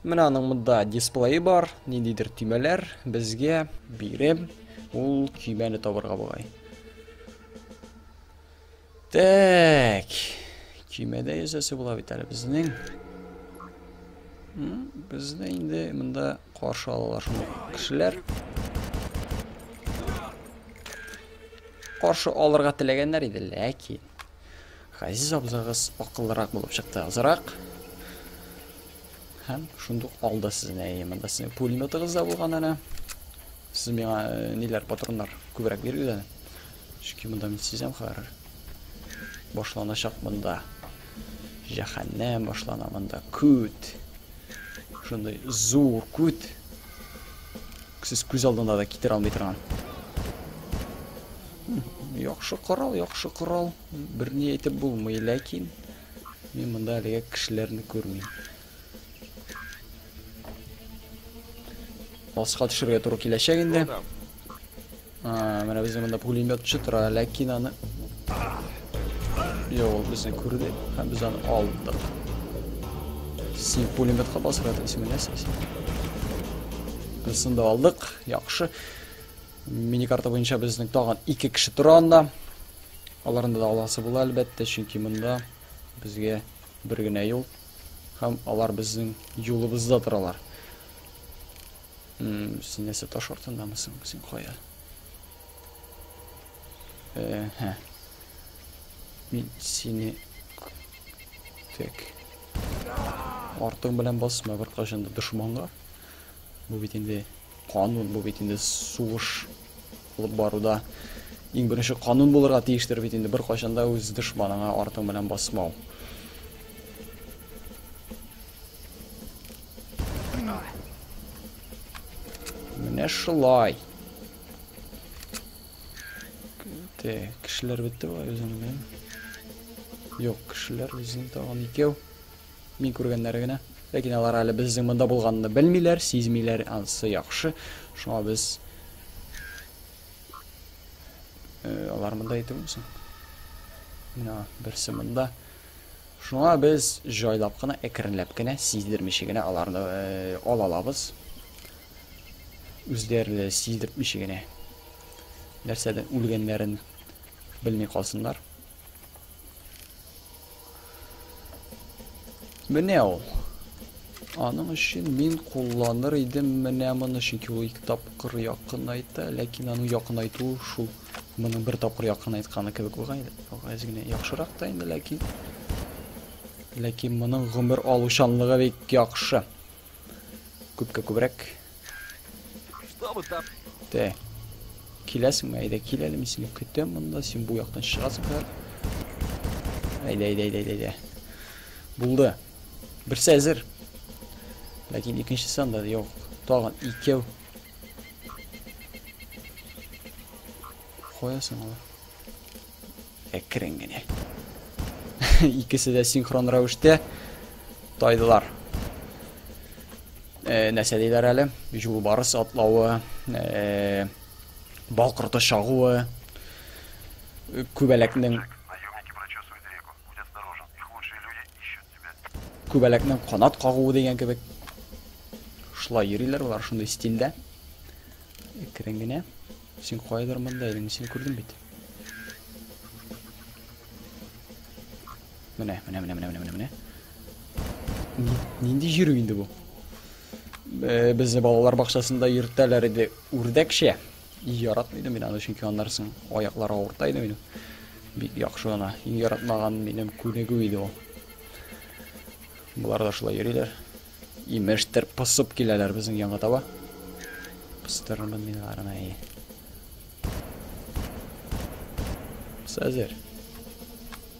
Менә аның монда дисплее бар, ниндидер төймәләр безгә биреп, ул көймәне табырга бугай. Так. Көймәдә ясасы була бит әле безнең. Безне инде монда каршы алалар шундый кешеләр. Каршы алырга теләгәннәр иде, ләкин Газиз абзагыз акыллырак булып чыкты азрак. Һәм шундук алды сезне. Әйе, монда сезнең пулеметыгыз да булган әле. Сез миңа э, ниләр патроннар күбрәк бирегез әле. Чөнки монда мин сизәм хәзер. Башланачак монда. Җәһәннәм башлана монда. Күт. Шундый зур күт. Сез күз алдында да китерә алмый торган. Яхшы корал, яхшы корал. Берни әйтеп булмый, ләкин мин монда әлегә кешеләрне күрмим. Аска төшергә туры киләчәк инде. А, менә безнең монда пулеметчы тора, ләкин аны Йо, ул безне күрде һәм без аны алдык. Син пулеметка басырга телисеңме, нәрсә син? Без анда алдык, яхшы. Миникарта буенча безнең тагын ике кеше тора анда. Аларында да аласы була, әлбәттә, чөнки монда безгә бер генә юл һәм алар безнең юлыбызда торалар. Син нәрсә таш артындамы соң? Син кая? Э, һә. Мин сине тек артың белән басма бер кашында дошманга. Бу бит инде канун, бу бит инде сугыш алып баруда иң беренче канун булырга тиештер бит инде бер кайчанда үз дошманыңа артың белән басмау. Менә шулай. Те, кешеләр бетте бай үзен белән. Юк, кешеләр үзен тагын икәү. Мин күргәннәре генә. Ләкин алар әле безнең монда булганны белмиләр, сизмиләр, ансы яхшы. Шуңа без э, алар монда итүме соң? Менә берсе монда. Шуңа без җайлап кына, әкренләп кенә, сиздермичә генә аларны э, ала алабыз. Үзләре сиздертмичә генә. Нәрсәдән үлгәннәрен белми калсыннар. Менә ул. Аның өчен мин кулланыр идем менә моны, чөнки ул ике тапкыр якынайта, ләкин аның якынайту шул моның бер тапкыр якынайтканы кебек булган иде. Газ генә яхшырак та инде, ләкин ләкин моның гомер алучанлыгы бик яхшы. Күпкә күбрәк. Тә. Киләсеңме? Әйдә, кил әле, мин сине көтәм монда. Син бу яктан чыгасың хәзер. Әйдә, әйдә, әйдә, әйдә. Булды. Берсе әзер. Ләкин икенчесе анда юк. Тагын икәү. Каясың алар? Әкрен генә. Икесе дә синхрон рәвештә тайдылар. Э, нәрсә диләр әле? Юлбарыс атлавы, э, балкырты шагуы, күбәләкнең күбәләкнең канат кагуы дигән кебек. Шулай йөриләр алар шундый стильдә. Әкрен генә. Син кайдыр монда идең, син күрдем бит. Менә, менә, менә, менә, менә, менә. Нинди җирү инде бу? Э, Безне балалар бакчасында йөртәләр иде үрдәкчә. Яратмыйдым мин аны, чөнки аннар соң аяклары авырта иде минем. Бик яхшы гына. Иң яратмаган минем күнегү иде ул. Болар да шулай йөриләр. Имештер, посып киләләр безнең янга таба. Пыстырырмын мин аларны. Без әзер.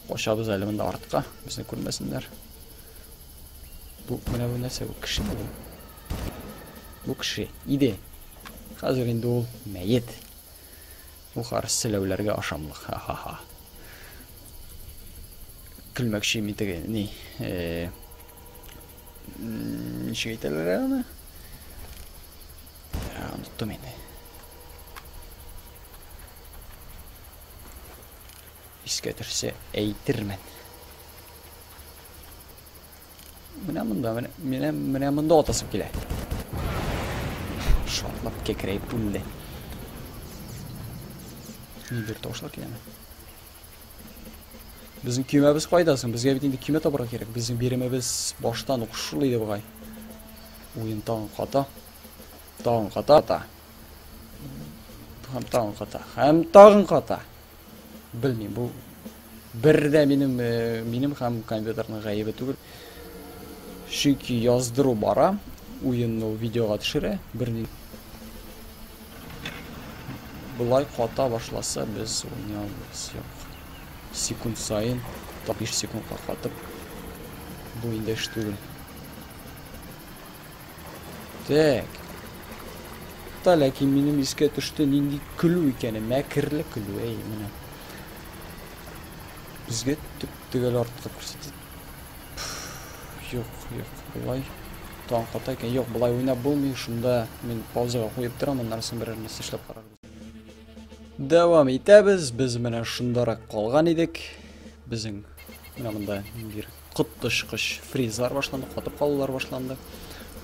Качабыз әле монда артка. Безне күрмәсеннәр. Бу менә бу нәрсә? Бу кеше бу. Бу кеше иде. Хәзер инде ул мәет. Бу карс селәүләргә ашамлык. Ха-ха-ха. Көлмәкче мин теге ни. Э, ничек әйтәләр аны? Э, Оныттым инде. Искә төшсә әйтермен. Менә монда, менә, менә, менә монда атасым килә. Шатлап кекрәеп үлде. Нидер тавышлар киләме? Безнең көймәбез кайда соң? Безгә бит инде көймә табарга кирәк. Безнең биремебез баштан ук шул иде бугай. Уен тагын ката. Тагын ката. Һәм тагын ката. Һәм тагын ката. Белмим, бу бер дә минем э, минем һәм компьютерның гаебе түгел. Чөнки яздыру бара, уенны ул видеога төшерә, берни. Булай ката башласа, без уйный алмыйбыз. Секунд саен, 5 секундка катып, бу инде эш түгел. Так. Та ләкин минем искә төште нинди көлү икәне, мәкерле көлү, әй, менә. Безгә төп төгәл артка күрсәтә. Юк, юк, болай таң ката икән. Юк, болай уйнап булмый. Шунда мин паузага куеп торам, аннан соң берәр нәрсә эшләп карарбыз. Дәвам итәбез. Без менә шундарак калган идек. Безнең менә монда бир Коточкыч фризлар башланды, катып калулар башланды.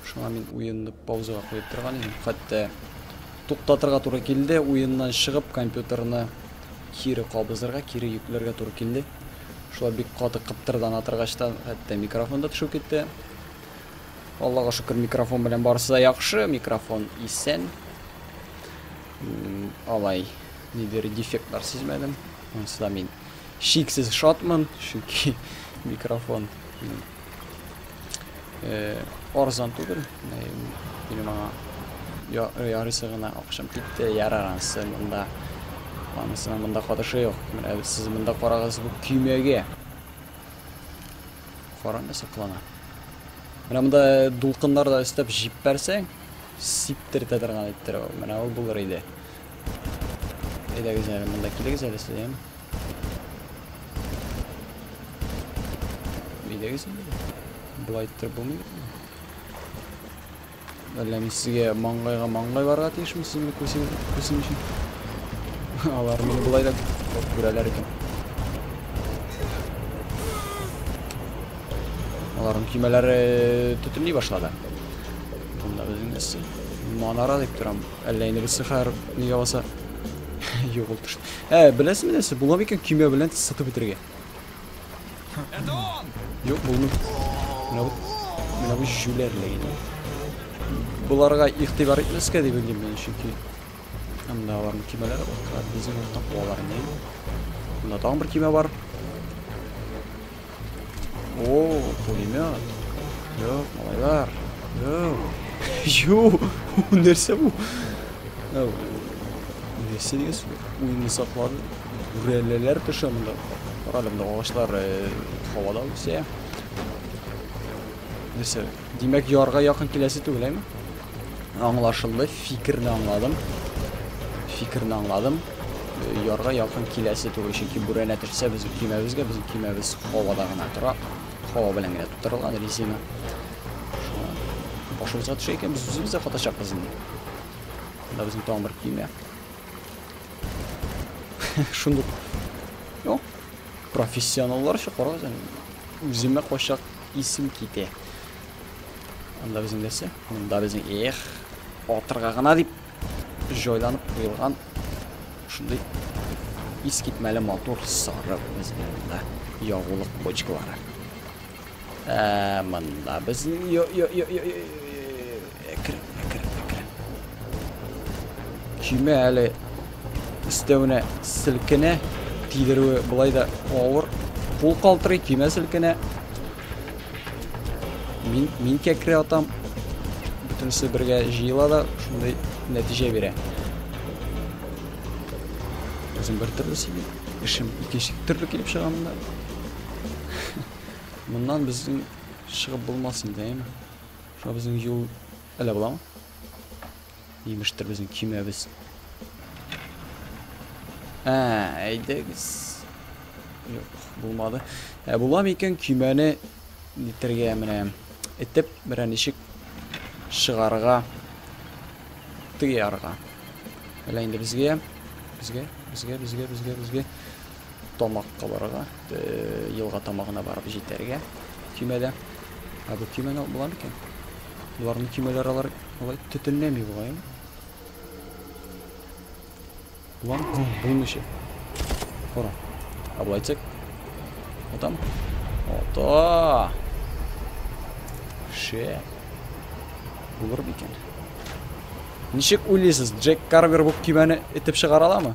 Шуңа мин уенны паузага куеп торган идем. Хәтта туктатырга туры килде, уеннан чыгып компьютерны кире кабызырга, кире йөкләргә туры килде. Шулай бик каты кыптырдан атыргачтан хәтта микрофон да төшеп китте. Аллага шөкер, микрофон белән барысы да яхшы, микрофон исән. Алай, нидер дефектлар сизмәдем. Монсы да мин Чиксез шатмын, чөнки микрофон арзан түгел. Минем аңа ярыйсы гына акчам китте. Ярар, анысы монда. Анысының монда катышы юк. Менә сез монда карагыз бу көймәгә. Караңгы саклана. Менә монда дулкыннар да өстәп җиппәрсәң, сиптертә торган иттерә ул. Менә ул булыр иде. Әйдәгез әле монда килегез әле сез, яме. Әйдәгез инде. Болай иттереп булмый. Әллә мин сезгә маңгайга маңгай барырга тиешме сез мине күрсен күрсен өчен? Алар мине болай да күрәләр икән. Аларның көймәләре төтенли башлады. Монда безнең нәрсә? Манара дип торам. Әллә инде без хәер ни яласа. Юк ул төш. Ә, беләсезме нәрсә? Була микән көймә белән сытып бетергә? Это он! Юк, булмый. Менә бу менә бу җүләрле инде. Буларга игътибар итмәскә дип белдем мин, чөнки анда аларның көймәләре бар. Безнең тапалар не? Монда тагын бер көймә бар. О, пулемет. Йоп, малайлар. Йоп. Йоу, нәрсә бу? Нәрсә деген сүз? Уйны саклады. Бүрәләләр төшә монда. Карале, монда агачлар һавада үсә. Нәрсә? Димәк, ярга якын киләсе түгел, әйме? Аңлашылды, фикерне аңладым. Фикерне аңладым. Ярга якын киләсе түгел, чөнки бүрәнә төшсә безнең көймәбезгә, безнең көймәбез һавада гына тора. Һава белән генә тутырылган резина. Шуңа башыбызга төшә икән, без үзебез дә катачакбыз инде. Монда безнең тагын бер көймә. Шундук. Профессионалларча карагыз әле. Үземә качак Исем китә. Анда безнең нәрсә? Монда безнең эх, атырга гына дип җайланып куелган шундый ис китмәле матур сары безнең монда ягулык почкалары. Ә монда безнең Әкрен, әкрен, әкрен. Көймә әле өстәвенә селкенә, тидерүе былай да авыр. Кул калтырый, көймә селкенә. Мин, мин кәкре атам. Бөтенесе бергә җыела да шундый нәтиҗә бирә. Үзем бер төрле сөйли. Эшем икенче төрле килеп чыга монда. Моннан безнең чыгып булмас инде, әйме? Шуңа безнең юл әллә буламы? Имештер безнең кимәбез. Ә, әйдәгез. Юк, булмады. Ә була микән кимәне нитергә менә итеп берәр ничек шыгарга тыярга. Әллә инде безгә, безгә, безгә, безгә, безгә, безгә. тамак кабарырга, елга тамагына барып җитәргә көймәдә. Ә бу көймәне була микән? Боларның көймәләре алар алай төтенләми бугай. Булам, булмыйча. Кара. Ә болай тик. Атам. Ата. Ше. Булыр микән? Ничек уйлыйсыз, Джек Карвер бу көймәне итеп чыгара аламы?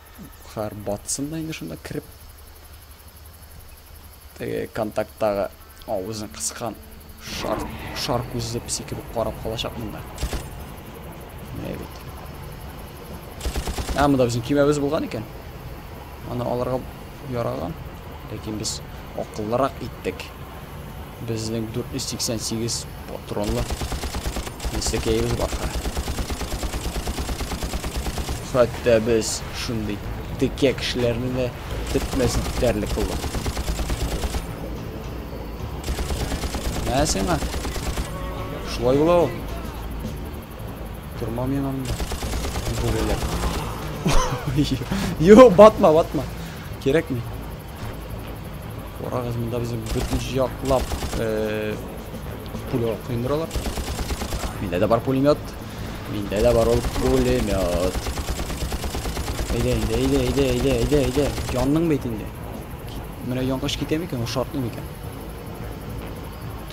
Кар батсын да инде шунда кереп. Теге контакттагы авызын кыскан шар, шар күзле песи кебек карап калачак монда. Менә бит. Ә монда безнең көймәбез булган икән. Аны алырга яраган. Ләкин без акыллырак иттек. Безнең 488 патронлы нәсекәебез бар. Хәтта без шундый текә кешеләрне дә тетмәс итәрлек булдык. Ә сиңа? Шулай була ул. Тормам мин анда. Бүреләр. Йо, батма, батма. Кирәкми. Карагыз, монда безне бөтен яклап э, пуля коендыралар. Миндә дә бар пулемет. Миндә дә бар ул пулемет. Әйдә, әйдә, әйдә, әйдә, әйдә, әйдә, әйдә. Янның бит инде. Менә яңгыш китә микән, ул шартлый микән?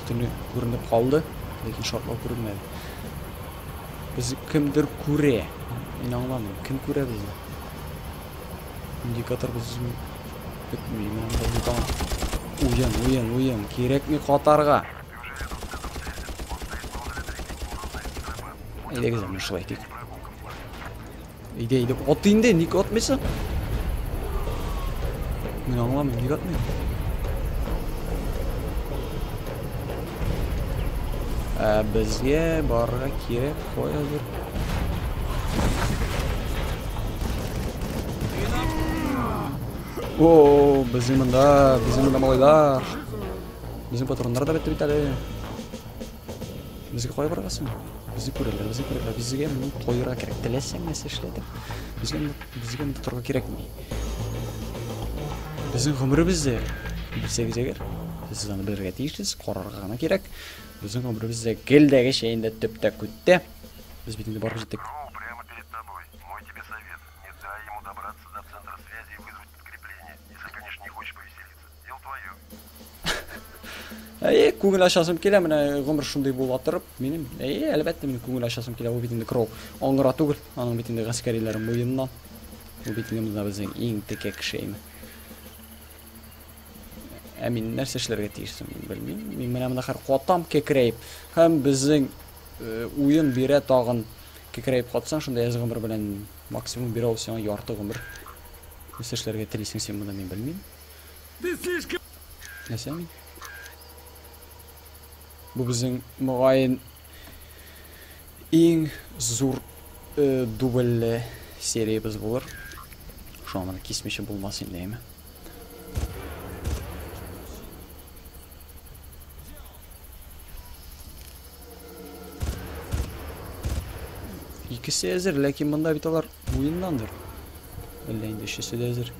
Төтене күренеп калды, ләкин шартлау күренмәде. Без кемдер күрә. Мин аңламыйм, кем күрә безне? Индикатор безнең бетми, менә монда бутан. Уен, уен, уен. Кирәкми катарга. Әйдәгез аны шулай итик. Әйдә, әйдә. Ат инде, ник атмыйсың? Мин аңламыйм, ник атмыйм? Ә безгә барырга кирәк, каядыр. О, безнең монда, безнең монда малайлар. Безнең патроннар да бетте бит әле. Безгә кая барасың? Безне күрәләр, безне күрәләр. Безгә моны коерга кирәк. Теләсәң нәрсә эшләдек. Безгә безгә монда торырга кирәкми. Безнең гомеребездә белсәгез әгәр, сез аны белергә тиешсез, карарга гына кирәк. Безнең гомеребездә гелдәгечә инде төптә күттә. Без бит инде барып җиттек. Кроу прямо перед тобой. Мой тебе совет. Не дай ему добраться до центра связи и вызвать подкрепление. Если, конечно, не хочешь повеселиться. Дело твое. Әйе, күңел ашасым килә, менә гомер шундый була торып, минем, әйе, әлбәттә, минем күңел ашасым килә, ул бит инде крол. Аңгыра түгел, аның бит инде гаскәриләре муеннан. Ул бит инде монда безнең иң текә кеше име. Ә мин нәрсә эшләргә тиеш соң, белмим. Мин менә монда хәр катам кекрәеп, һәм безнең Уен бирә тагын кекерәеп катсаң шунда яшь гомер белән максимум бирә ул сиңа ярты гомер. Нәрсә эшләргә телисең син монда мин белмим. Ты слишком... Нәрсә мин? Бу безнең мөгаен иң зур э, дубльле сериябез булыр. Шуңа моны кисмичә булмас инде, әйме? Икесе әзер, ләкин монда бит алар уеннандыр. Әллә инде өчесе дә әзер.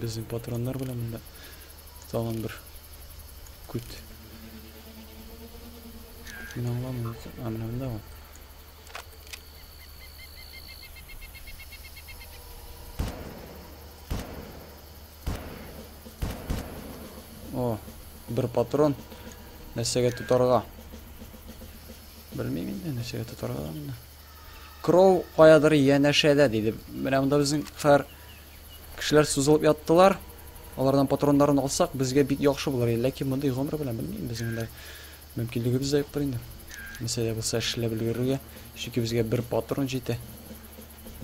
Безнең патроннар белән монда тагын бер күт. Мин аңламыйм, ә менә монда ул. О, бер патрон. Нәрсәгә тотарга? Белмим инде, нәрсәгә тотарга монда. Кроу каядыр янәшәдә диде. Менә монда безнең хәр кешеләр сузылып яттылар. Алардан патроннарын алсак, безгә бик яхшы булыр. Ләкин мондый гомер белән белмим, безнең монда мөмкинлегебез дә юктыр инде. Нәрсә дә булса эшләп өлгерергә, чөнки безгә бер патрон җитә.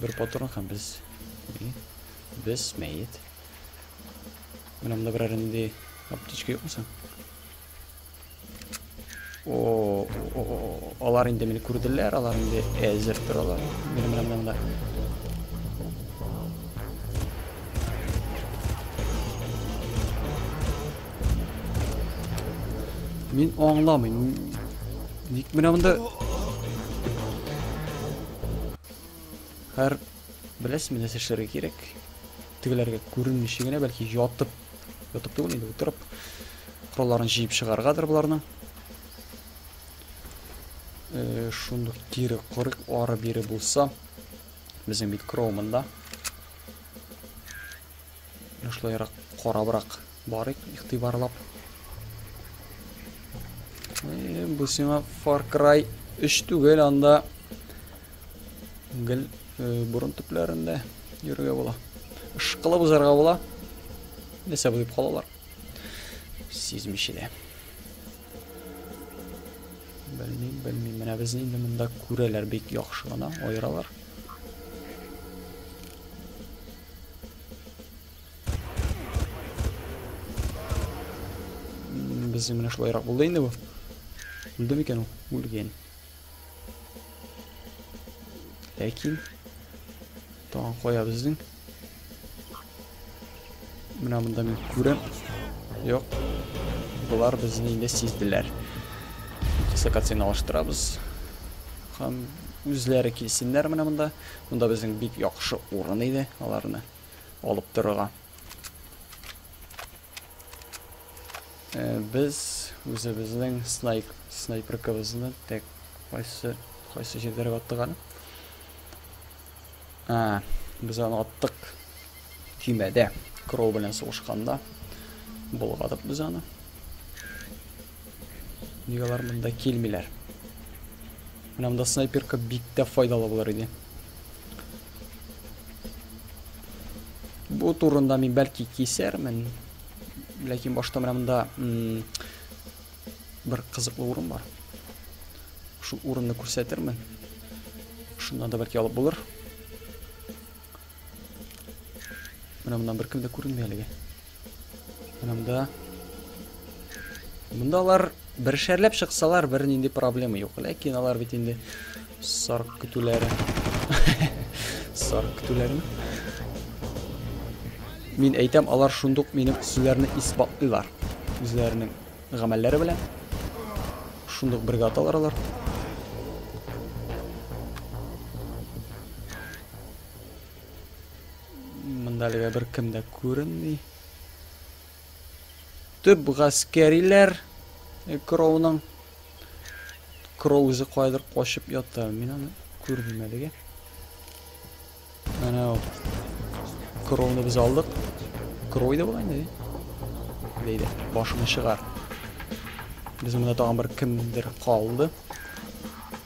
Бер патрон һәм без Без мәет. Менә монда берәр нинди аптечка юкмы соң? О, алар инде мине күрделәр, алар инде әзер торалар. Менә менә менә монда. Мин аңламыйм. Ник менә монда? Һәр Беләсезме, нәрсә эшләргә кирәк? Тегеләргә күренмичә генә, бәлки ятып, ятып түгел инде, утырып, коралларын җыеп чыгаргадыр боларның. Э, шундук кире корык ары бире булса, безнең бит кроумында. Менә шулайрак карабрак барыйк, игътибарлап. Э, бу сиңа Far Cry 3 түгел, анда гел э, борын төпләрендә йөрергә була. Ышкылып узарга була. Нәрсә булып калалар? Сизмичә дә. Белмим, белмим. Менә безне инде монда күрәләр бик яхшы гына, аералар. Без менә шулайрак булды инде бу. Үлде микән ул? Үлгән. Ләкин тагын кая безнең? Менә монда мин күрәм. Юк. Болар безне инде сизделәр. Дислокацияне алыштырабыз. Һәм үзләре килсеннәр менә монда. Монда безнең бик яхшы урын иде аларны алып торырга. Э, без үзебезнең снайп, снайперкабызны тек кайсы, кайсы җирдәргә аттык әле? Ә, без аны аттык. Көймәдә крол белән сугышканда болгадык без аны. Нигә алар монда килмиләр? Менә монда снайперка бик тә файдалы булыр иде. Бу турында мин бәлки кисәрмен. Ләкин башта менә монда бер кызыклы урын бар. Шул урынны күрсәтермен. Шуннан да бәлки алып булыр. Менә моннан беркем дә күренми әлегә. Менә монда. Монда алар бер шәрләп чыксалар, бер нинди проблема юк. Ләкин алар бит инде сарык көтүләре. Сарык көтүләрме? Мин әйтәм, алар шундук минем сүзләрне исбатлыйлар. Үзләренең гамәлләре белән. Шундук бергә аталар алар. Монда әлегә беркем дә күренми. Төп гаскәриләр э, Кроуның Кроу үзе кайдыр качып ята. Мин аны күрмим әлегә. Әнә ул. Кроуны без алдык. Кроу иде була инде. Бәйле, башыңны чыгар. Без монда тагын бер кемдер калды.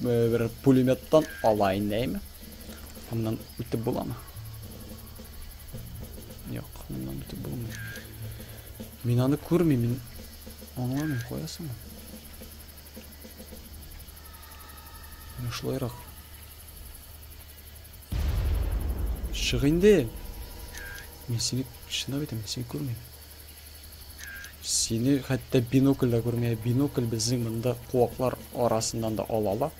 бер пулеметтан ала инде әйме аннан үтеп буламы Юк, моннан үтеп булмый. Мин аны күрмим, мин аңламыйм, кая соң? Менә шулайрак. Чык инде. Мин сине чынлап әйтәм, мин сине күрмим. Сине хәтта бинокль дә күрмә. Бинокль безнең монда куаклар арасыннан да ала ала.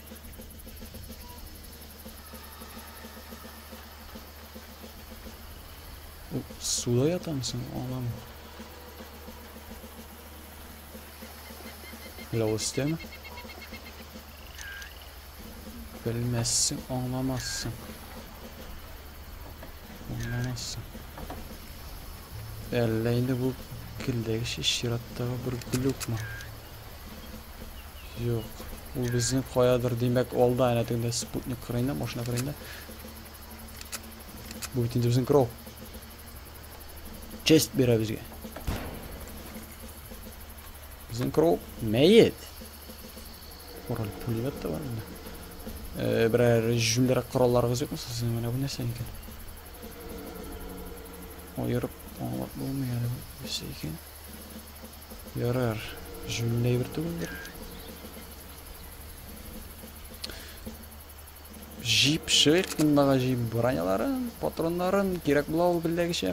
Суда ятамсың, анам. Ләвыстен. Белмәссең, аңламассың. Аңламассың. Әллә инде бу келдәге шеш чираттагы бер глюкмы? Юк. Ул безнең каядыр, димәк, алда әнә тегендә спутник кырыенда, машина кырыенда. Бу бит инде безнең кров. Честь бирә безгә. Безнең кров мәет. Король пулемет та бар инде. Э, берәр җүллерәк коралларыгыз юкмы сезнең? Менә бу нәрсә икән? Аерып аңлап булмый әле бу нәрсә икән. Ярар, җүлле әйбер түгелдер. Җип шык мондагы җип броняларын, патроннарын кирәк була ул белдәгечә.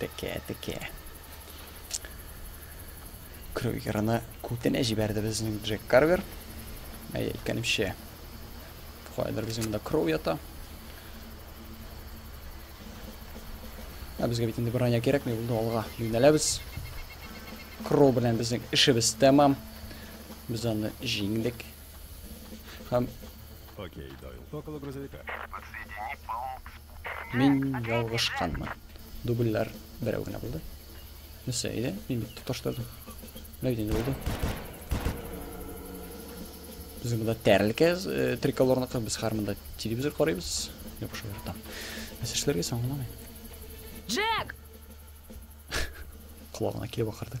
Текә, текә. Крюгерны күтенә җибәрде безнең Джек Карвер. Әй, әйткәнемчә, кайдыр безнең монда Кроу ята. Ә безгә бит инде броня кирәкми булды, алга юнәләбез. Кроу белән безнең эшебез тәмам. Без аны җиңдек. Һәм Окей, Дойл. Около грузовика. Мин ялгышканмын. Дубльләр берәү генә булды. Нәрсә, әйдә, мин бит тоташтырдым. Менә бит инде булды. Безнең монда тәрелке э, триколорныкы, без хәр монда телевизор карыйбыз. Юк, шул там. Нәрсә эшләргә соң аңламый. Джек! Колагына килеп акырды.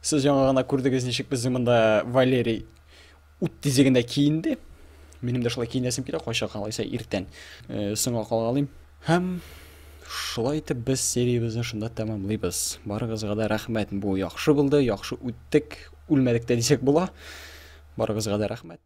Сез яңа гына күрдегез, ничек безнең монда Валерий ут тизегендә киенде. Минем дә шулай киенәсем килә, кайчак калайса иртән э, соңга калгалыйм. Һәм шулай итеп без сериябезне шунда тәмамлыйбыз. Барыгызга да рәхмәт. Бу яхшы булды, яхшы үттек, үлмәдек тә дисәк була. Барыгызга да рәхмәт.